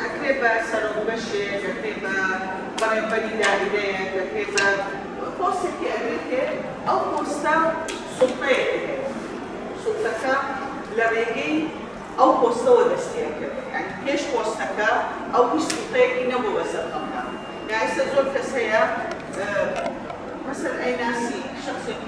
دەکرێت بە سەرۆک بەشێک، دەکرێت بە بەڕێوبەری دایرەیەک، دەکرێت بە پۆستێکی ئەگرێتێ، ئەو پۆستە سوڵتەیەک هەیە، سوڵتەکە لە ڕێگەی ئەو پۆستەوە دەست پێ ئەکەوێت، یانی پێش پۆستەکە ئەو هیچ سوڵتەیەکی نەبوو بەسەر خەڵکا، ئێستا زۆر کەس هەیە مەسەلەن ئەیناسی شەخسێکی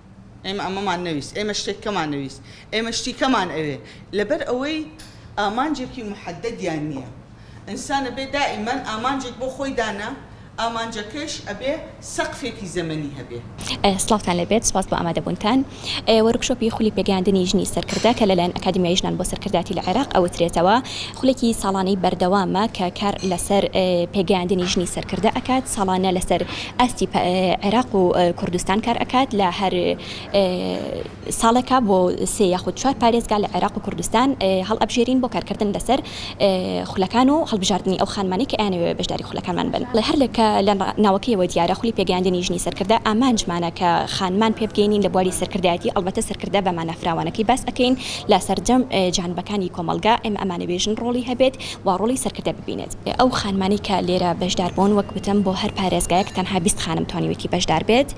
ئێمە ئەمەمان نەویست، ئێمە شتێک کەمان نەویست، ئێمە شتی کەمان ئەوێ، لەبەر ئەوەی ئامانجێکی موحەددەدیان نییە. ئینسان ئەبێ دائیمەن ئامانجێک بۆ خۆی دانا، ئامانجەکەیش ئەبێ سەقفێکی زەمەنی هەبێ. سڵاوتان لێبێت، سوپاس بۆ ئامادەبوونتان. وۆرکشۆپی خولی پێگەیاندنی ژنی سەرکردە کە لەلایەن ئەکادیمیای ژنان بۆ سەرکردایەتی لە عێراق ئەوترێتەوە، خولێکی ساڵانەی بەردەوامە کە کار لەسەر پێگەیاندنی ژنی سەرکردە ئەکات، ساڵانە لەسەر ئاستی عێراق و کوردستان کار ئەکات لە هەر ساڵێکا بۆ سێ یاخود چوار پارێزگا لە عێراق و کوردستان هەڵئەبژێرین بۆ کارکردن لەسەر خولەکان و هەڵبژاردنی ئەو خانمانەی کە ئەیانەوێ بەشداری خولەکانمان بن ڵێ هەر لەکە لە ناوەکەیەوە دیارە خولی پێگەیاندنی ژنی سەرکردە ئامانجمانە کە خانمان پێ بگەینین لە بواری سەرکردایەتی ئەڵبەتە سەرکردە بە مانا فراوانەکەی باس ئەکەین لە سەرجەم جانبەکانی کۆمەڵگا ئێمە ئەمانەوێ ژن ڕۆڵی هەبێت و ڕۆڵی سەرکردە ببینێت. ئەو خانمانەی کە لێرە بەشدار بوون، وەک وتم بۆ هەر پارێزگایەک تەنها بیست خانم توانیوێتی بەشدار بێت،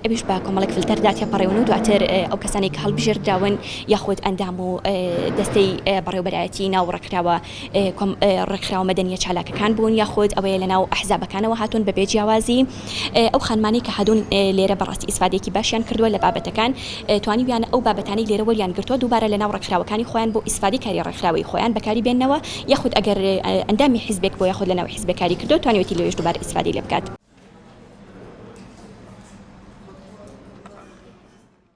ئەویش بە کۆمەڵێک فلتەردا تێپەڕیون و دواتر ئەو کەسانەی کە هەڵبژێردراون یاخود ئەندام و دەستەی بەڕێوەبەرایەتی ناو ڕێکخراوە ڕێکخراوە مەدەنییە چالاکەکان بوون یاخود ئەوەیە لەناو ئەحزابەکانەوە هاتوون بەبێ جیاوازی ئەو خانمانەی کە هادون لێرە بەڕاستی ئیسفادەیەکی باشیان کردوە لە بابەتەکان توانیویانە ئەو بابەتانەی لێرە وەریان گرتوە دووبارە لەناو ڕێکخراوەکانی خۆیان بۆ ئیسفادەی کاری ڕێکخراوەیی خۆیان بەکاری بێننەوە یاخود ئەگەر ئەندامی حیزبێک بوە یاخود لەناو حیزبێک کاری کردوە توانیوێتی لەوێش دووبارە ئیسفادەی لێ بکات.